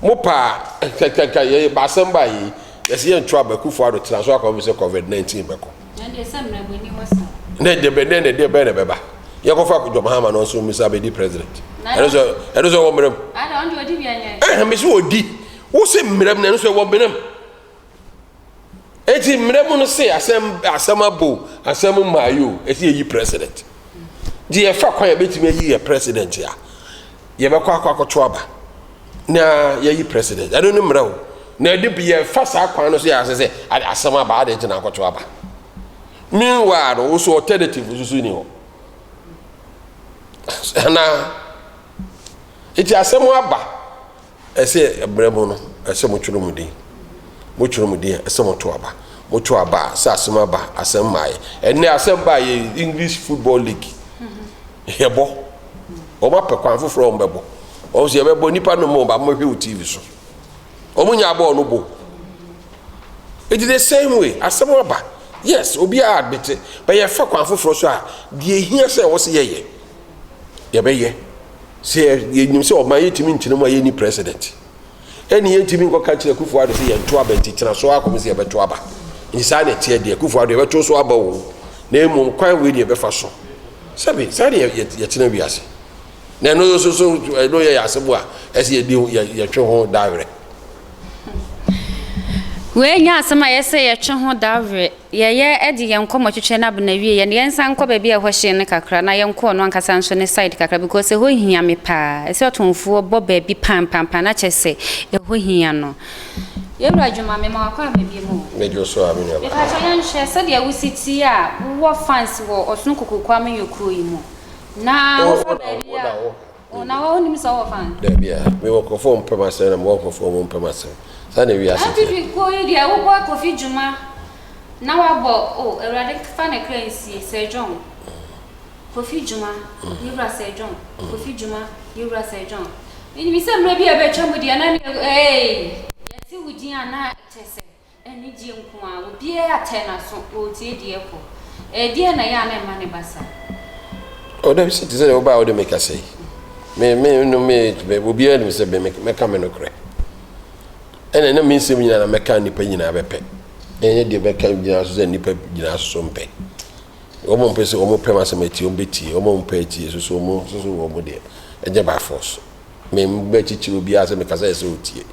mo paa, nkankanka, yɛyɛ baasɛm baa yei, yɛsɛ yɛnto aba, Akufo Ado tena so akɔma sɛ COVID-19 bɛkɔ. Na deɛ sɛ mmerɛbɔni wɔ sa. Na deɛ bɛ na deɛ bɛn na bɛba. Yɛkɔfa John Mahama no nso misa bɛdi president. Ɛno sɛ ɛno sɛ wɔ mmerɛm. Ada ɔno deɛ ɔdi bi anyɛ. Ɛhɛn mesi ɔdi, wo se mmerɛm na ɛno sɛ wɔ mmerɛm. Eti mmara mu no se asɛm asɛm abo asɛm mmaeɛ o, ɛsɛ yɛyi president. Nti yɛfa kwan a yɛbɛtumi ayi yɛ president a, yɛbɛkɔ akɔ akɔto aba na yɛyi president. Ɛno ne mmara o. Na ɛde yɛfa saa kwan no so yɛ asɛ sɛ asɛm aba ade nti na akɔto aba. Meanwhile no, wo so alternative nso so ni hɔ. Anaa, eti asɛm aba. Ɛsɛ ɛberɛ mu no, ɛsɛ motwerɛ mo din. Motwerɛ mo din a, ɛsɛ moto aba. Moto aba a, sɛ asɛm aba a, asɛm mmaeɛ. Ɛnnɛ asɛm baeɛ yi, English Football League, yɛbɔ. Wɔn apɛ kwan foforɔ a wɔn bɛbɔ. Wɔn nso yɛbɛbɔ, nnipa no mmɔ wɔn, ba mobɛhwɛ wɔ TV so. Wɔn nyaa bɔɔl no bɔ. Eti the same way, asɛm aba, yes, obiara adete, but yɛfa kwan foforɔ so a, deɛ ɛhia sɛ ɛwɔ sɛ yɛyɛ. yɛbɛyɛ sɛ yɛnim sɛ ɔman yɛtumi nkyerɛ mu a yɛnni president ɛne yɛntumi nkɔka kyerɛ kufoɔ ado sɛ yɛnto aba nti tena so akɔm sɛ yɛbɛto aba nti saa na ɛteɛ deɛ kufoɔ ado yɛbɛto so aba o na mmom kwan wei ne yɛbɛfa so sɛbe saa ne yɛtena wiase na ɛno nso so ɛno yɛ yɛ asɛm a ɛsɛ yɛdi yɛtwe ho dawerɛ wei nyɛ asɛm a yɛsɛ yɛtwe ho dawerɛ Yɛyɛ de yɛn nkɔmmɔ twetwɛ n'abena wieɛ no, yɛnsan nkɔ baabi a ɛhɔ hye no kakra na yɛnkɔ ɔno ankasa nso ne side kakra because ɛhɔ hia me paa. Ɛsɛ sɛ ɔtomfoɔ bɔ baabi pampampaa na kyerɛ sɛ ɛhɔ hia no. Yɛwura Dwuma, mema wo akwaaba biom o. Medwo so a me nua baa. Mepakyɛ yɛnhwɛ sɛdeɛ wosi tie a wowɔ fans wɔ Ɔsono Kokokuo amanyɔkuo yi mu na wofa baabi a. Oh, na wa onim sɛ ɔwɔ fan? Dabi a, me wɔ nkorɔfoɔ ɔmo pɛ m'asɛm na me wɔ nkorɔfoɔ ɔmo mpɛ m'asɛm. Saa na ewiase teɛ. Atifi kuo yi deɛ wo boa Kofi dwuma na wa bɔ oh, Awurade fa ne kra nsie, Sir John, Kofi dwuma, yewura Sir John, Kofi dwuma, yewura Sir John. Menim sɛ mmerɛ bi a ɛbɛtwa mu deɛ na ne eh, yɛte wo din a na ɛkyɛ sɛ. Anigyeɛ nko ara, obiara atɛ n'aso, ɔretie deɛ ɛrekɔ. Ɛdeɛn na ɛyɛ a na ɛmma ne ba saa? O, dabi sɛ, te sɛ deɛ wobaa wode me kasa yi. Me, me, no, me, me, obiara nim sɛ me, me, mɛka me nokorɛ. Ɛna na me nsɛm nyinaa na mɛka nnipa nyinaa bɛpɛ. Ɛnyɛ deɛ mɛka nyinaa so sɛ nnipa nyinaa soso mpɛ. Wɔn mpɛ sɛ wɔn pɛ m'asɛm atie, wɔn bɛtie, wɔn mpɛ atie soso wɔn soso wɔn deɛ, ɛnyɛ by force. Memmbɛkyikyir obiara sɛ mekasa a ɛsɛ otsie.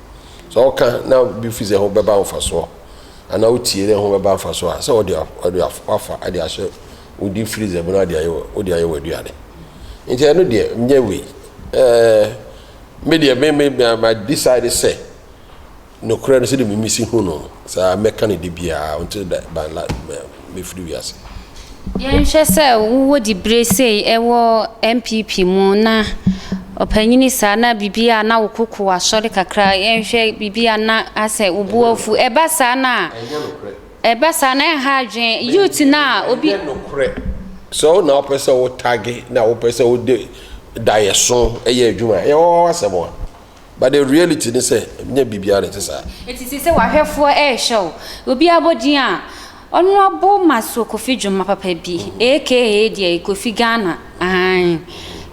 Sɛ ɔka na bi fi dɛ ho bɛba mfasoɔ anaa otsie dɛ ho bɛba mfasoɔ a, sɛ ɔde ɔde wafa de ahyɛ wo de freezer mu na de ayɛ wo de ayɛ w'aduane. Nti ɛno deɛ nyɛ wei. Ɛɛ me deɛ me me ma decide sɛ. Nokorɛ no, sɛdeɛ mimi si hu no, saa ara mɛka no da biara, until da ban la mɛ mɛfiri wiase. Yɛnhwɛ sɛ wowɔ diberɛ sei wɔ NPP mu na ɔpanyini saa na biribi a na wo koko wɔ asɔre kakra yɛnhwɛ biribi a na asɛ wo bo afu ɛba saa no a Ɛnyɛ nokorɛ. ɛba saa no a ɛnha adwen youth no a obi Ɛnyɛ nokorɛ. Sɛ wo na wopɛ sɛ wo tagge na wopɛ sɛ wode daeɛso yɛ adwuma a, ɛyɛ wo asɛm a. but the reality ne sɛ ɛnyɛ biribiara na ɛte saa. Enti te sɛ w'ahwɛfoɔ rehwɛ wo, obi abɔ din a, ɔno abo ma so Kofi dwuma papa bi, aka deɛ Kofi Ghana, aane.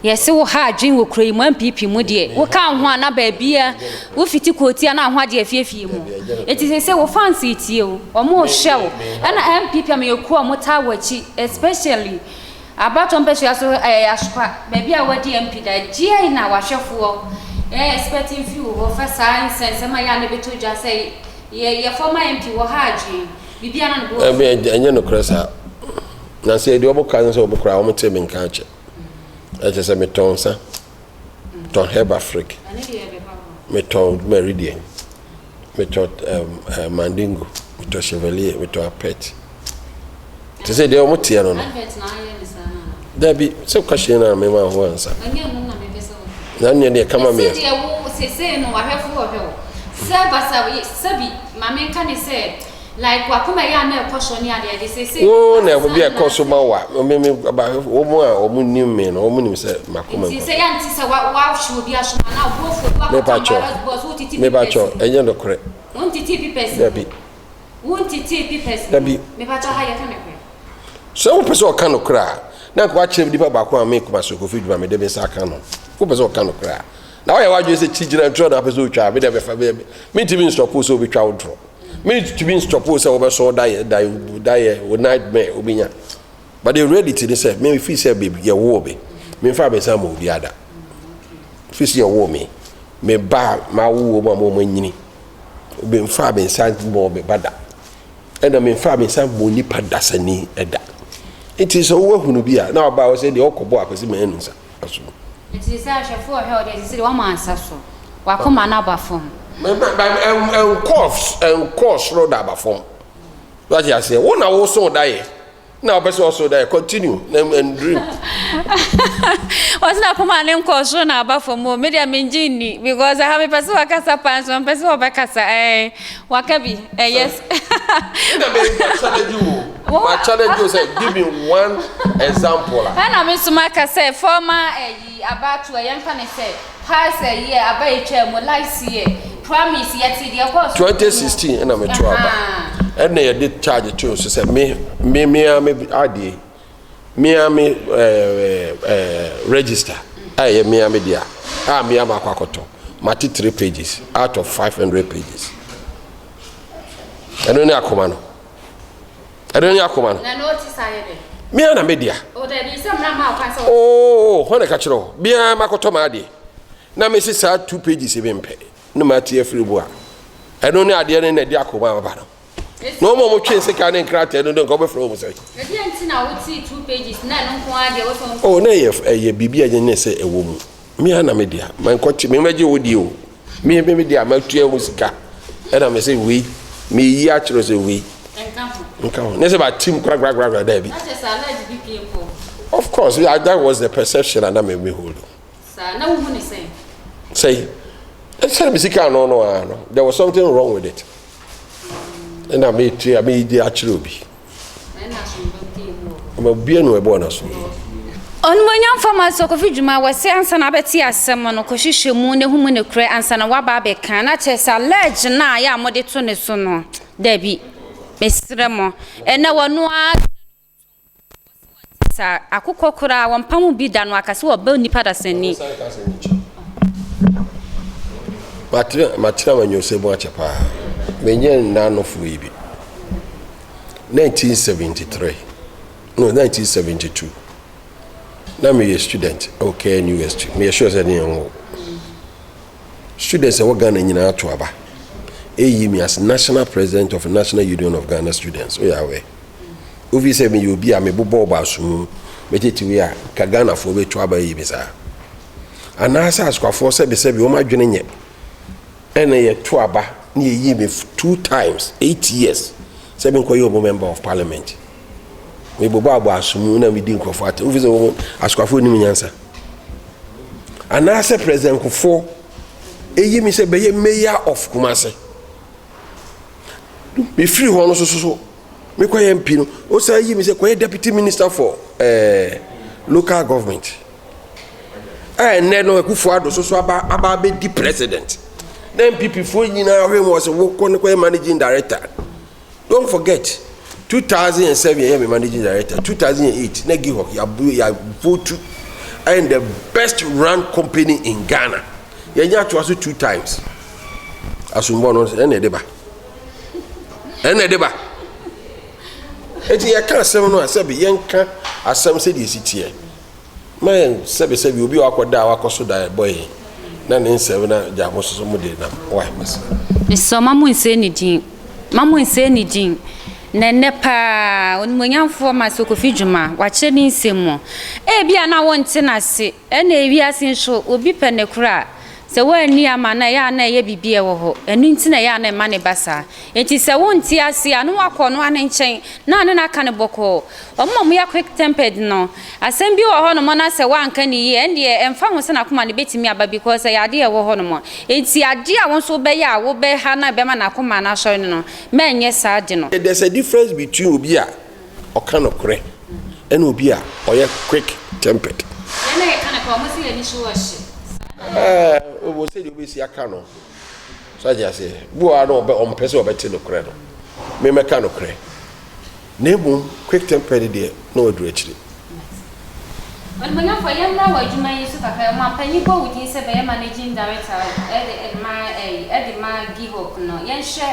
Yɛse wo ha adwene wɔ kuro yi mu, NPP mu deɛ, wo ka ho a na baabiara, wo fiti kooti a na aho agye afie afie mu. Enti sese wo fans retie wo, wɔn rehwɛ wo, ɛna NPP amanyɔkuo a wɔtaa w'akyi, especially Abatoɔ mpasua so ayɛ yasopa baabi a wadi MP da gyɛɛi na wahwɛfoɔ yɛ expecting fee wo hɔ fa saa nsɛnsɛm a yɛ a na ɛbɛtɔ dwa sɛ yɛ yɛ former MP wɔ ha adwene biribiara na ne bo afu. Ɛnyɛ nokorɛ saa na sɛ yɛdi ɔbo ka sɛ ɔbo koraa wɔn tee me nka akyɛ ɛkyɛ sɛ me tɔn nsa. tɔn herb afrik, metɔ meridian, metɔ um, uh, mandingo, metɔ chevalier, metɔ apet. Te sɛ deɛ wɔn teɛ no no. Dabi, sɛ woka hyɛn no a mema ho ansa. Na nneɛ deɛ kama meɛ. Sɛ wo sesei no wahwɛfo ɔhwɛ wo. Sɛ basa sɛbi, ma menka ne sɛ Wo na ɛho bi a ɛkɔ so ma wo a, me me ba wɔn a wɔn nim me no wɔn nim sɛ mako me nkɔ. Mepatwɔ mepatwɔ ɛnyɛ nokorɛ. Dabi dabi sɛ wo pɛ sɛ ɔka nokorɛ a na nka wakyerɛ nipa baako a me kuma so kofi dwuma me de me nsa aka no wo pɛ sɛ ɔka nokorɛ a na wɔyɛ wadwene sɛ kyi gyina ntorɔ na apɛ sɛ ɔtwa a me de bɛfa bɛ me ntumi nsɔpo sɛ ɔbɛtwa wo ntorɔ. mentumi nstop wo sɛ wobɛsɔ wo dayɛ dayɛ wo nightmare wobɛnya but the reality ne sɛ me fii sɛ yɛwoo me memfa me nsa ma obi ada fii sɛ yɛwoo me me ba mawowɔ mu a mɔma nyini memfa me nsa bɔɔ me ba da ɛna memfa me nsa bɔɔ nipa dasani da nti sɛ wowahunu bi a na waba wo sɛ deɛ ɔkɔbɔ akɔsi manu nsa so. Enti seesei ahwɛfo rehwɛ wo de, ɛsɛ sɛ de wɔma nsa so. W'akoma no aba fam. Ɛnkɔɔ soro na aba fam. So wate aseɛ? Wo na wosoo daeɛ, na wopɛ sɛ ɔsoo daeɛ. Continue na and dream. Ɔse n'akoma no nkɔɔ soro na aba fam o, me deɛ mengye nni because aha mepɛ sɛ wɔkasa paa nso ɔmpɛ sɛ wɔbɛkasa ɛɛn. Waka bi eh yes. Ɛna me nka challenge wo o ma challenge wo sɛ give me one example a. Ɛna me nso maka sɛ former ɛyi abatoɔ yɛn fa no sɛ past ɛyi ɛ aba etwaa mu last year promise yɛte deɛ ɛkɔɔ so. Twenty sixteen ɛna me to aba ɛna yɛde charge too so sɛ me me me a me adeɛ mea me register a ɛyɛ mea me dea a mea ma akɔ akɔtɔ mate three pages out of five hundred pages ɛno ne akoma no ɛno ne akoma no mea na me dea oo hɔ na ɛka kyerɛ hɔ biara ma akɔtɔ ma adeɛ na me se saa two pages bi mpɛ ne ma ate afiri bu a ɛno ne adeɛ no na ɛde akoma aba no na wɔn a wɔtwe sekan ne nkrataa no de nka wɔbɛfrɛ wɔn sɛ. ɛdeɛ nti na wote two pages na ɛno nko ara deɛ wotɔn. o oh, na ɛyɛ ɛyɛ biribi a nyɛ sɛ ɛwɔ mu me ara na me deɛ ma nkɔte me mɛgye wo deɛ o me me me deɛ a matua ho sika ɛna me sɛ wei me yi akyerɛ sɛ wei nka ho ne sɛ ba tim kura kura kura kura daabi. of course that was the perception anamɛ mi hold. Saa, na wohu no sɛn? Sɛn? Ɛsiane me sika ano no ara no, there was something wrong with it. Ɛna meetu a meedi akyerɛ obi. Na ɛna asomdwom te emu wɔ hɔ. Ɛma obiara nu ɛbɔɔ no asomdwom. Onimuonyam fa ma sɛ ɔkɔfi dwuma a, wɔse ansa na abɛte asɛm no, kɔhwehwɛ mu na hu mu nokorɛ ansa na woaba abɛka. Na kyerɛ sɛ alleged no a yɛ a mode to ne so no, dabi. Mesrɛ mo. Ɛnɛ wɔno ara te na ne ho tu. Sa akokɔ koraa wɔmpa ho bi da no aka sɛ wɔbɛ nipa da sɛnni. Matena m'anyɔsɛ mu akyɛ paa. Menyɛ nnanofoɔ yi bi. 1973 no 1972 na meyɛ student ɛwɔ KNU SG meyɛ sure sɛ ne yɛn wɔ students ɛwɔ Ghana nyinaa to aba ɛyi mi as national president of national union of Ghana students oyɛ awɛ. Wofi sɛ meyɛ obi a mebobɔɔ bɔ asomu, metetewee a, ka Ghanafoɔ bɛtu aba ayi me saa. Anaasɛ Asukwafoɔ sɛbesɛbe wɔn adwene nyɛ ɛna yɛtu aba na yɛyi me two times, eight years, sɛ menkɔyɛ ɔmo member of parliament. Mebobɔ abɔ asomu na medi nkurɔfoɔ atɛm. Wofi sɛ wɔn Asukwafoɔ nim nyansa. Anaasɛ President Nkofoɔ ɛyi me sɛ bɛyɛ mayor of Kumase. mefiri hɔ no so so so mekɔyɛ mp no wosan yi me sɛ kɔyɛ deputy minister for eh, local government a ɛnnɛ no akufo ado so so aba aba abɛdi president na mpp foɔ nyinaa hwɛ mu ɔsɛ wokɔ no kɔyɛ managing director don't forget 2007 yɛyɛ me managing director 2008 na gihok yɛavotu ɛn the best run company in ghana yɛnya toa so two times asombɔ no ɛna ɛde ba ɛna ɛde ba eti yɛka asɛm no a sɛbi yɛnka asɛm sɛdeɛ esi teɛ ma yɛn sɛbi sɛbi obi a wakɔ da a wakɔ so da ɛbɔ yi na ne nsɛm na gya mo soso mo de nam wa basi. nsɔ ma mo nsɛ ne din ma mo nsɛ ne din na nnɛ paa onimonyamfoɔ ma sokofi dwuma wakyerɛ ne nsɛm mu ebi a na wɔnte n'ase. Ɛnna wiase nso, obi pɛ ne koro a, sɛ wanni ama no a, ɛyɛ a na ɛyɛ biribi a ɛwɔ hɔ. Ɛno nti na ɛyɛ a na ɛma no ba saa. Enti sɛ wonte ase a, na woakɔ ɔnoa no nkyɛn na wo ne no aka no bɔkɔɔ. Wɔn a wɔyɛ quick tempered no, asɛm bi wɔ hɔnom na sɛ woanka no yie a, ɛnneɛ ɛmfa ho sɛ n'akoma no bɛtumi aba because ɛyɛ adeɛ a ɛwɔ hɔnom. Enti adeɛ a wo nso wobɛyɛ a wobɛha no a ɛbɛma n'akoma no asɔre no no, ma ɛnyɛ saa de no. There's a difference between obi a ɔka nokorɛ ɛne obi a ɔyɛ quick tempered. Yɛn a yɛka nokorɛ, wɔn sɛ yɛn ani so wɔ hye. Saa na. Ɛɛ, wɔn sɛdeɛ wɔbɛsi aka no. So agye aseɛ? Bi wɔ hɔ a na wɔbɛ, wɔmpɛ sɛ wɔbɛte nokorɛ no. Memmɛka nokorɛ. Na mmom, quick tempered deɛ, na waduru akyire. Ɔnebɔnɛfoɔ, yɛmmra w'adwuma yi so kakra mu ampa nyi bɔ wo din sɛ bɛyɛ managing director de ma ɛyi, de ma GIHOC no, yɛnhwɛ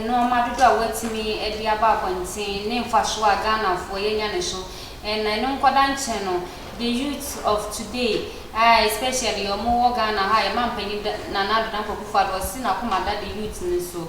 nnoɔma dodoɔ a woatumi de aba abɔnten ne mfasoɔ a Ghanafoɔ yɛanya no so ɛna ɛno nkɔda nkyɛn no the youth of today a especially wɔn wɔ Ghana ha a yɛn manpanin Nana Addo Dankwa Akufo-Addo ɔse n'akoma da the youth no so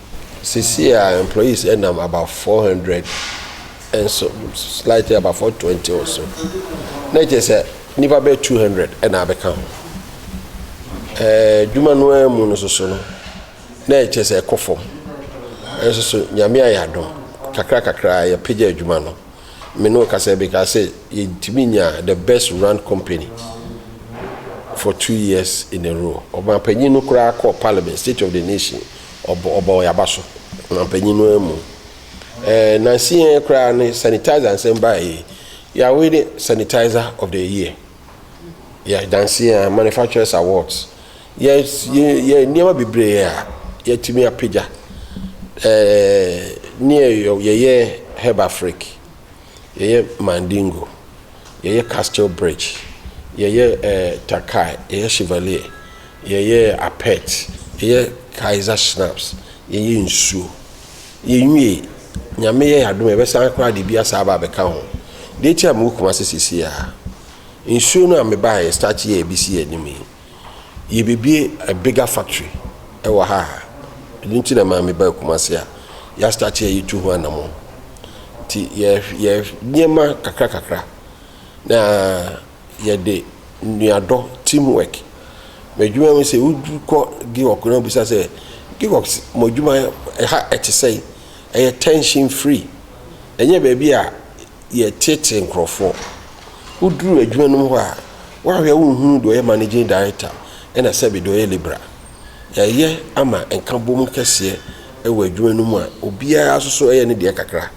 Seesei a employees nam about 400 nso slightly about 420 or so na kyerɛ sɛ nipa bɛyɛ 200 ɛna abɛka ho ɛɛ adwuma no ara mu no soso no na ɛkyerɛ sɛ ɛkɔ fam ɛnso so nyame ayɛ adom kakra kakra yɛpagya adwuma no me ne ɔkasa bi ka sɛ yɛntumi nya the best run company for two years in a row ɔbanpanyin no koraa kɔ parliament state of the nation Ɔbɔ ɔbɔɔ yɛn aba so, mampanyin no amu. Ɛɛ nansi yɛn koraa no sanitizer nsɛm baa yi. Yɛ away ne sanitizer of the year. Yɛ dansi yɛn manufacturers awards. Yɛ yɛ yɛ nneɛma bebree a yɛatumi apagya. Ɛɛ ne yɛ yɛyɛ Herbafric. yɛyɛ Mandingo, yɛyɛ Castle Bridge, yɛyɛ eh, Takai, yɛyɛ Chevalier, yɛyɛ Apet, yɛyɛ Kaiser Schnapps, yɛyɛ nsuo. Yɛnwie, nyame yɛ adom yɛbɛsan koraa de bi asa aba abɛka ho. Deɛ ɛti a mewɔ Kumase sisi a, nsuo no a mebaeɛ start yɛ ɛbi si yɛ anim yi, Yɛrebɛbue a bigger factory wɔ ha a, ɛno nti na ɛmaa mebaa Kumasi a yɛastate a yɛtu ho anammɔn. Nti yɛ yɛ nneɛma kakra kakra na yɛde nnuadɔ team work. M'adwuma mu sɛ wokɔ Giwɔk na wobisa sɛ Giwɔk mo adwuma ɛha ɛte sɛn? Ɛyɛ tension free, ɛnyɛ baabi a yɛreteetee nkorɔfoɔ. Woduru adwuma no mu hɔ a, woahwɛ a wonhunu deɛ ɔyɛ managing director ɛna sɛbe deɛ ɔyɛ labourer. Yɛayɛ ama nkabom kɛseɛ wɔ adwuma no mu a obiara nso so yɛ ne deɛ kakra.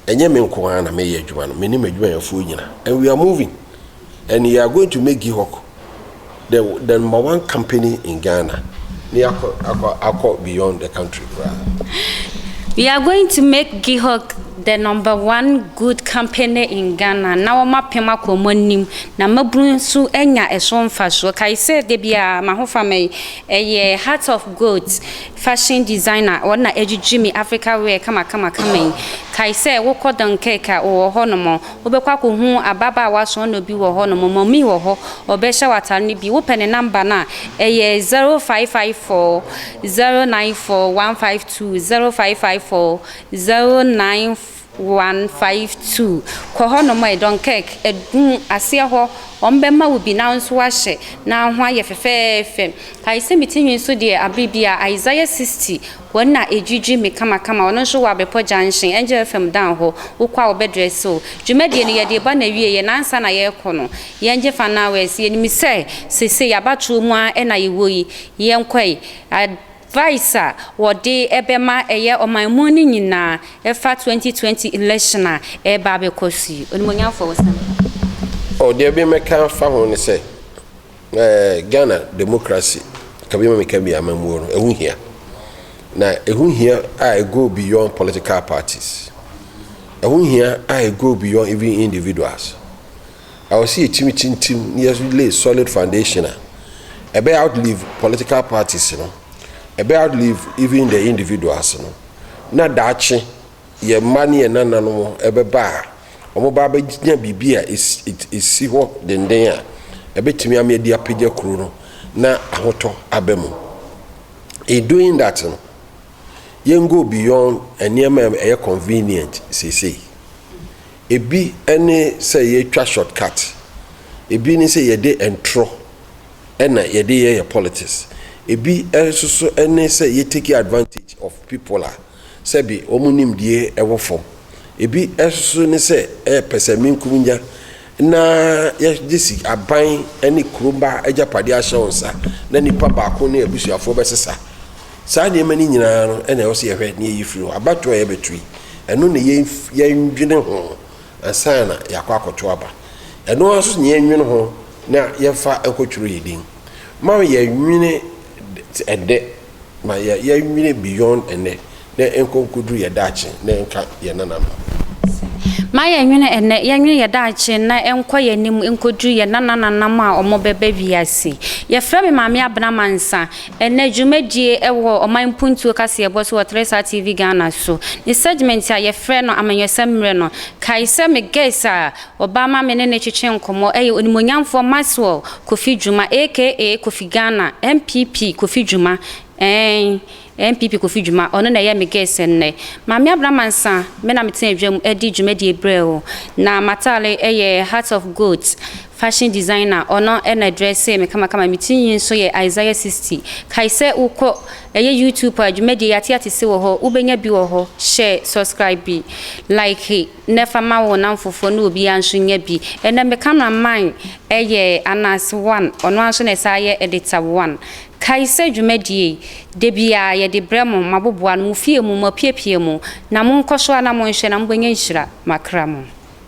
Ɛnyɛ me nko ara na mereyɛ adwuma no, me ne m'adwumayɛfoɔ nyina and we are moving. and you are going to make Gihok the the number one company in Ghana ne akɔ akɔ akɔ beyond the country koraa. You are going to make Gihok the number one good company in Ghana na wɔn apem akɔ wɔn anim na mmabunu nso anya ɛso mfasoɔ kae sɛ da biara m'ahofama yi ɛyɛ heart of gold fashion designer wɔn na agyigye me Africa wear kama kama kama yi kae sɛ wokɔ Dunkirk a wɔwɔ hɔ nom Wobɛkɔ akɔhu ababaawa soɔnɔ bi wɔ hɔ nom, mami wɔ hɔ, ɔbɛhyɛ wo atare no bi. Wopɛ ne number no a, ɛyɛ 0554-094-152-0554-09152. Kɔ hɔ nom, ɛyɛ Dunkirk, ɛdum aseɛ hɔ, wɔn bɛma wo bi na wo nso woahyɛ na ho ayɛ fɛfɛɛfɛ. Kae sɛ me ti nwi nso deɛ aberɛ biara, Isaiah 60. Hɔ na edwidwi me kamakama, ɔno nso wɔ Abepɔ Junction, Angel FM dan hɔ, wokɔ a wɔbɛdrɛ se wo. Dwumadie no yɛde reba n'awieɛ na ansa na yɛrekɔ no, yɛngye fan hours, yɛnim sɛ seesei abatoɔ mu ara na yɛwɔ yi, yɛnkɔ yi. Advice a wɔde bɛma ɛyɛ ɔman mu no nyinaa ɛfa 2020 election a ɛreba abɛkɔ so yi. Onimuonyamfoɔ wo sɛ. Oh, deɛ memmɛka mfa ho ne sɛ. Eh, Ghana democracy kabi ma meka bi amammuo no ɛho hia na ɛho hia a it go beyond political parties ɛho hia a it go beyond even individuals ɛwɔ sɛ yɛtumi tintim na yɛlay solid foundation a ɛbɛyɛ outlive political parties no ɛbɛyɛ outlive even the individuals no na daakye yɛn mma ne yɛn nananom ɛbɛba a wɔba abɛnya biribi a ɛsi hɔ denden a ɛbɛtumi ama yɛde apagya kuro no na ahotɔ aba mu. In doing that no, yɛn go beyond nneɛma a ɛyɛ convenient seesei. Ebi ne sɛ yɛtwa short cut, ebi ne sɛ yɛde ntorɔ na yɛde yɛ yɛn politics, ebi nso so ne sɛ yɛ take advantage of people a, Sɛbe wɔn nimdeɛ wɔ fam. Ebi nso ne sɛ ɛyɛ pɛsɛmenkominya na yɛde asi aban ne kuro mma agyapadeɛ ahyɛ wo nsa na nipa baako ne abusuafoɔ bɛsesa. Saa nneɛma no nyinaa no na ɛwɔ sɛ yɛhwɛ na yɛyi firi hɔ. Abatoɔ a yɛbɛto yi, ɛno na yɛndwene ho ansa na yɛakɔ akɔto aba. Ɛno ara nso na yɛnwene ho na yɛmfa nkɔtwerɛ yɛn din. Mma yɛnnwene ɛdɛ. ma yɛ yɛ nwene beyond ɛnɛ ne nkɔ nkɔduru yɛ daakye ne nka yɛ nananom. Ma yɛ nwene ɛnɛ, yɛ nwene yɛ daakye na ɛnkɔ yɛ anim nkɔduru yɛ nanananam a ɔmɔ bɛba wiase. Yɛ frɛ me Maame Abena Mansa. Ɛnɛ dwumadie ɛwɔ ɔman mpuntuo kaseɛbɔ so wɔ Teresa TV Ghana so. Ne segment a yɛ frɛ no Amanyɔsɛm Mmerɛ no. Kae sɛ me guest a Ɔbaa ma me ne no twetwee nkɔmmɔ yɛ Onimuonyamfoɔ Maxwell Kofi Dwuma aka Kofi Ghana, NPP Kofi Dwuma, eeii, NPP Kofi Dwuma, ɔno na ɛyɛ me guest nnɛ. Maame Abena Mansah, me na metena adwa mu de dwumadie brɛɛ wo. Na m'atare yɛ Heart of Gold fashion designer, ɔno na ɛdrɛsee me kamakama. Me ti nwi nso yɛ Isaiah 60. Kae sɛ wokɔ ɛyɛ YouTube a, dwumadie yi ateatese wɔ hɔ, wobɛnya bi wɔ hɔ. Share, subscribe, like. na ɛfa ma wo namfofoɔ na obiara nso nya bi. Ɛnɛ me camera man yɛ Ananse one, ɔno ara nso na ɛsan yɛ Editor one. Kae sɛ dwumadie yi, da biara yɛde brɛ mo, moaboboa ano, mo fie mu, moapiapia mu, na monkɔ so ara na monhwɛ na mobɛnya nhyira, makra mo.